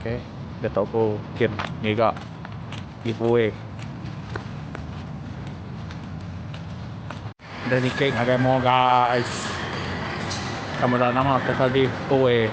Okay. Dia tau ko kin ngiga giveaway. Dia nikik ngagai mo guys. Ka meda nama ke ka giveaway.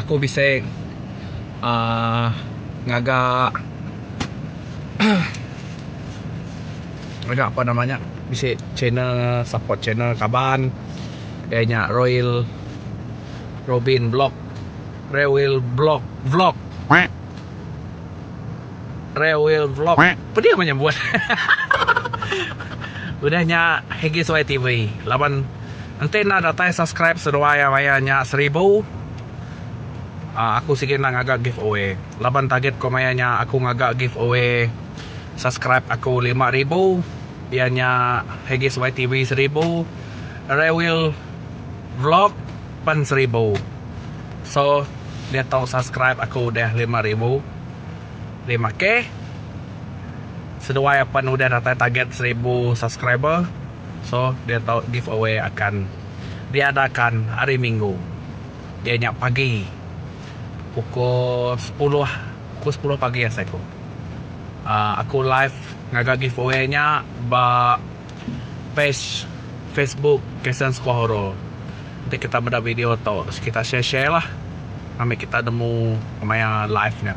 Aku bisi uhh ngaga ngaga apa nama nya bisi channel support channel kaban iya nya royal robin blog rewel blog vlog rewel vlog pedi mah nyebut udah nya hgsuai tv laban. Enti enda datai subscribe seduai raya nya seribu uhh aku sigi enda ngaga giveaway laban target ku maya nya aku ngaga giveaway subscribe aku lima ribu iya nya Hegis YTV seribu Rewil Vlog pen seribu so diatu subscribe aku udah lima ribu lima keh seduai apan udah datai target seribu subscriber. So dia tau give away akan diadakan hari minggu iya nya pagi pukul sepuluh pukul sepuluh pagi asai aku uhh aku live ngaga give away nya ba page facebook kasen sikuah horor enti kita meda video tu kita share share lah ami kita nemu pemain live nya.